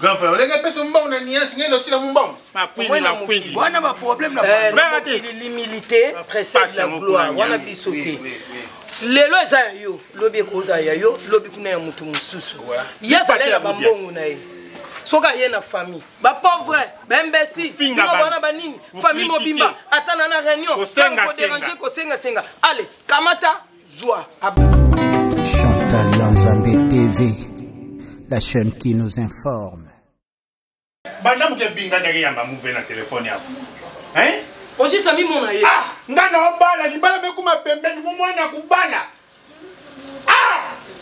Grand frère, oleka pesa mbongo na niasi ngenda osila mbongo. Makwini na kwini. Wana ba problème na eh, famille. Mère te l'humilité précède la gloire. Wana biso te. lelo eza ya yo lobi ekozala ya yo lobi kuna ya moto mosusu ye azali na bambongo na ye soki aye na famille bapauvre baimbesiina banini famille mobimba ata na na réunion koderange kosengasenga ale kamata zwa chantal ya nzambe tv la chaîne qui nous informe banda moto ebinganaki yamba move na telefone yako hein ojisa mimona ye ah nga na obala libala mekuma pembeni momwana kubala ah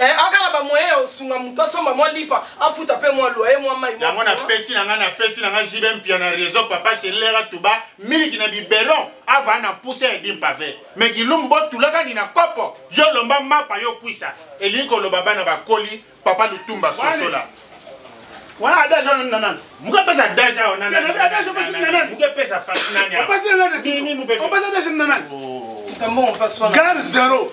Eh, aka na bamoyen ya kosunga moto asomba mwa lipa afuta mpe mwa loye mwa mai yango napesi na ngai napesi na ngai jibe mpia na réseau papa selera tuba miliki na biberon avaa na mpuse ya dimpave me kilumbu botulaka ni na kopo yo lomba mapa yo kwisa elingi koloba bana bakoli papa lutumba sosola wana adaje wana na nani muke pesa adaje awa na nani adaje pesa na nani muke pesa fasi nani awa pesa na nani nini muke pesa adaje na nani oh. gare zero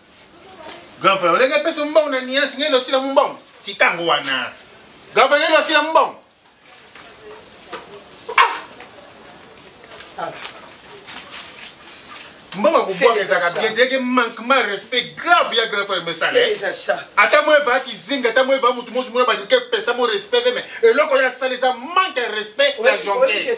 Grand frère, olingi apesa mbongo na niasi ngende osila mbongo tika yango wana grand frère ngende osila mbongo ah. mbongo akobwaka ezalaka bien teke manquement respect grave ya grand frère mesala eh. ata mo eva kizinga ata mo eva motu mosi mona balingi epesa mo respect te me eloko ya sala eza manque ya respect ya jonke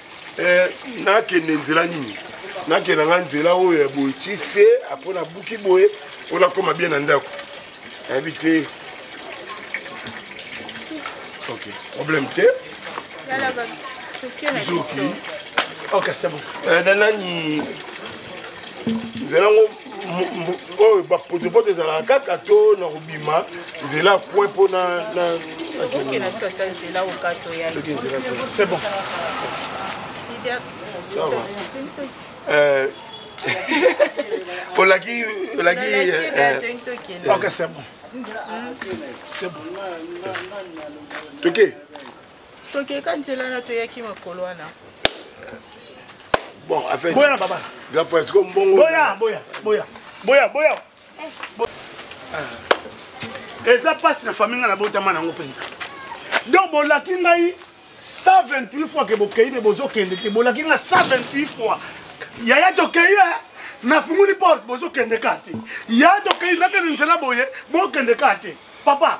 eh, nakende nzela nini nakenda nga nzela oyo ya boye ti se apres nabuki boye mpo nakoma bien na ndako nayebi te ok problème te zoki okasebo eh, na nani nzela ngo oyo bapotopoto ezalaka kaka to na kobima nzela coin mpo na c'est bon ça va euh, olaki olaki euh, euh, ok c'est bon c'est bon toke tokeka nzela na toyaki makolo wana bon affaire boya na baba grand frère siko mbongo boya boya boya boya boya eh. eza mpasi na famille nga nabotama nango mpenza donc bolaki ngai 128 fois ke bokei me bozokende te bolaki nga 128 fois yaya tokei e eh. nafunguli porte bozokende ka te yaya tokei nakende nzela boye bokende ka te papa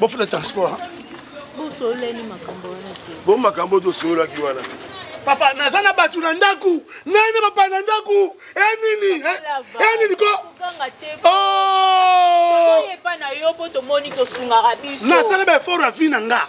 bofuta transport bosololani makambo wana te bo makambo oyo tosololaki wana papa naza na bato na ndako ngai na papa na ndako enini eh, eh, enini eh, ko oh! nasala baefort ya vi na nga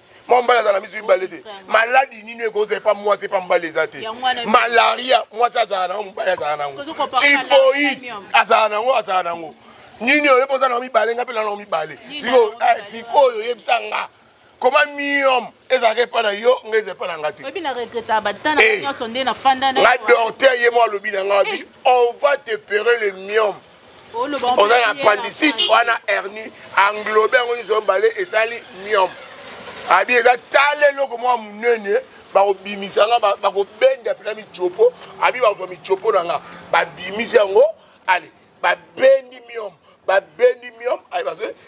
mwa mbala azala misu mibale te maladi nini ekoza epa mwasi epa mbala eza te malaria mwasi azala nango mobali azala nango tifoid azala nango azala nango nini oyo epoza nango mibale nga mpe nango mibale sikoyo eh, oyebisa nga koma miom ezalaka epa na yo nga eza epa na nga te eh. nga dorter ye mo alobi na nga abi eh. on va te pere le miom oza na pandicite wana hernie englobe yango nyonso mibale esali miome abi eza tala eloko mwa monene bakobimisa nga bakobenda mpena mitiopo abi bakozwa mitiopo na nga babimisi yango ale babendi miome babendi miome ale bazwi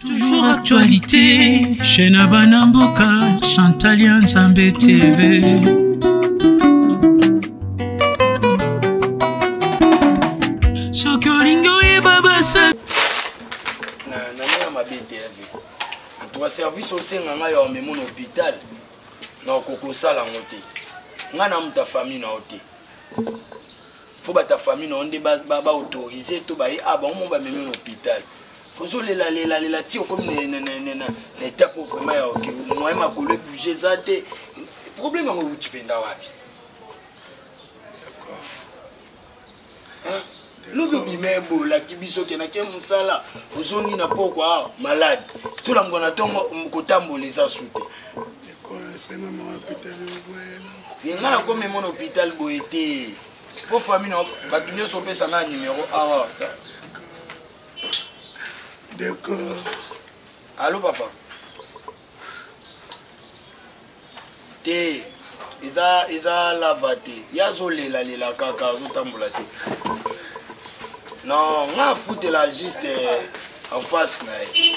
Toujours actualité chez Nabana Mboka, Chantalia Nzambe TV. soki olingi oyeba basa na nanga mabe te antuka service osenga ngai ya omemona hôpital na okokosala yango te ngai na moto ya famille na yo te fo bata famille na yo nde baautorise to baye a ah, bango mo bamemi na hôpital ozolela lela lela ti okomi na etape vraiment ya oke moye makolo ebouge eza te problème yango euti mpenza wapi lobi obima ebolaki biso kenake mosala ozongi na pokwa malade tolangwa na ntongo kotambola eza su te ye nga nakomi mona hôpital boye te po famille na bato nyonso opesa nga numero awa alo papa te eza eza lava te ye azolelalela kaka azotambola te non nga afutela juste eh, en face na ye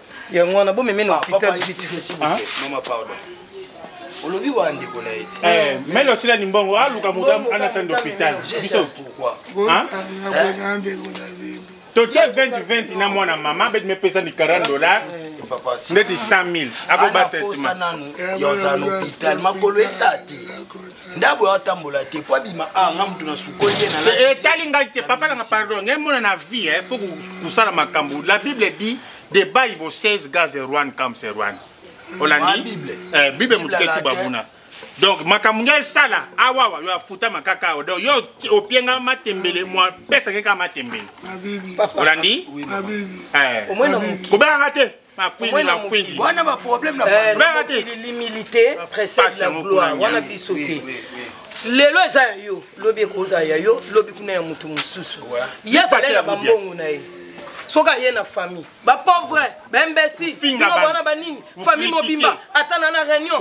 yango wana bomeme na hôpital mama pardon olobi wa ndeko na ye ti eh, mele osila limbongo aluka ah, moto anatanda hôpital biso totie 2020 na mwana mama beti mepesa ni 40 dollar ndeti 100 000 makolo esa te ndabo ya atambola te po abima a ah, nga moto na sukoli ye etali eh, eh, ngai te papa nanga pardon ngai mona na vie po kosala makambo la bible dit de bayi bo 16 gaz erwan kam serwan olandi eh, bible motuke tubabuna donc makambo ngai esala awawa yo afutama kaka awa donc yo opienga matembele mwa pesake kaka matembele olandi eh. kobenganga te wana baproblème na eh, l'humilité précède la gloire wana biso te lelo eza ya yo lobi ekozala ya yo lobi kuna ya moto mosusu ye azali na bambongo na ye soki aye na famille bapauvre baimbesi bana banini famille mobimba ata na na réunion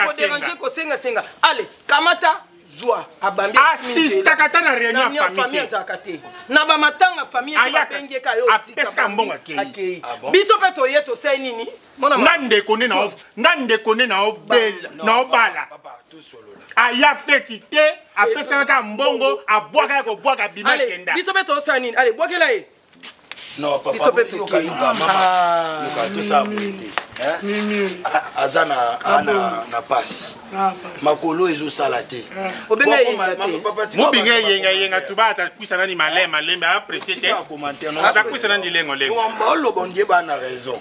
koderange kosengasenga ale kamata zwa abambi asistaka ata na réunion ya famille azalaka te na bamatanga famille abengeka yo apesaka mbongo akei biso mpe toye tosai nini nga ndeko nde nga ndeko nde naobala aya feti te apesaka kaka mbongo abwaka ya kobwaka abima kenda biso mpe tosala nini ale bwakela ye non papa biso mpe tokeyoka mama ah. yoka tosala boye te aza na ah, na pasi ah, makolo ezosala te mobinga eyengayenga tuba atakwisa nani malema lembe apressie te aza kwisa nani lengolengo oloba ndie bana raison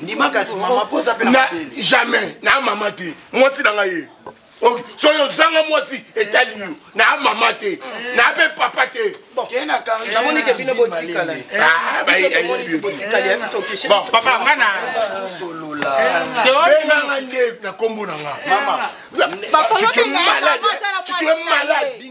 ndima kasi mama po oza mpe na jamais na mama te mwasi na ngai ye soki ozanga mwasi etali yo na mama te na mpe papa te papa nga na benganga nde na nkombo na nga tu es malade tu es malade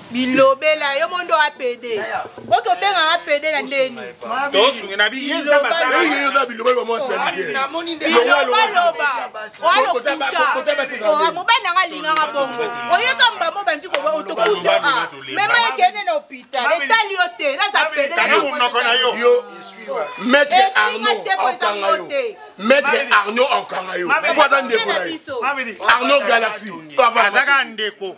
bilobela yo mondo a pede oki obengaka pede na ndeni tosungi na biyeamobali nanga alingaka bongo oyeka mbamo obandi koba otokuti a mema ekende na hopital etali yo te naza pede maître arno akanga yo maître arno akanga yo mpo aza ndeko na yo arno galaxi azaka ndeko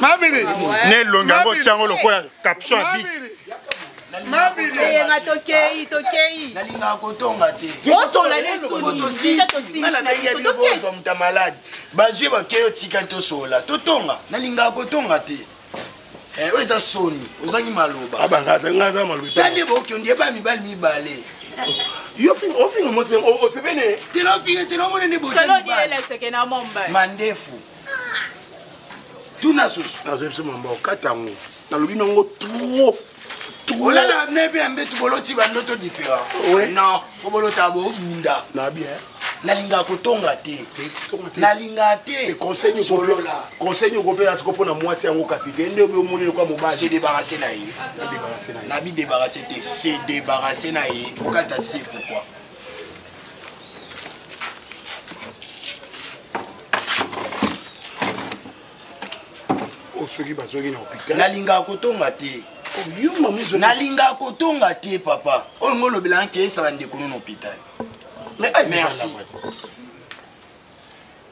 mabili na elongi yango otyango lokola caption ya biki eyenga tokei tokei nalingaka kotonga te osola nesunga nabengi ya bino bozwa moto ya maladi bazwi bakei otikali tosola totonga nalingaka kotonga te eh, oyo eza soni ozangi maloba ah, tande boki ondie ba mibali mibale yo finga ofinga mose osebene tela ofinga tela omona nde bomandefu tuna susu nazwa biso mamba okata yango nalobi nango trop olala ne mpe na mbetu boloti bandoto différent non fo bolota bobunda nalingaka kotonga te nalingaka te conseil okopela siko mpo na mwasi yango kasi te nde obi omoni lokwa mobali se débarrasse na ye na bi débarrasse te se débarrasse na ye okata se pourquoi oh, soki bazongi na hôpital nalingaka kotonga te oh, nalingaka kotonga te papa oyo oh, ngo olobelanga keyebisa bandeko no na hôpital merci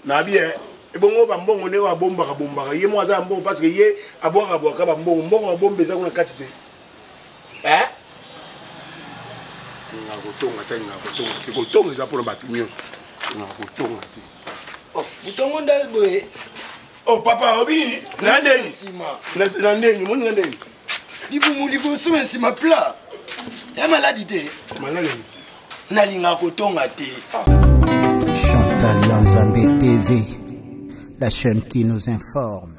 na bien eh, ebongo bambongo nde oyo abombaka bombaka ye moko aza ya mbongo parce que ye abwakaka bwaka bambongo mbongo abomba eza kuna kati te eh? nga kotonga te nga kotonga te kotonga eza mpona bato nyonso nga kotonga te oh, motongo nda boye o oh, papa obi nini na ndeni na ndeni omoni na ndeni libumu liboso na nsima pla ya maladi te maladi nalingaka kotonga te chantal ya nzambe tv la chaîne qui nous informe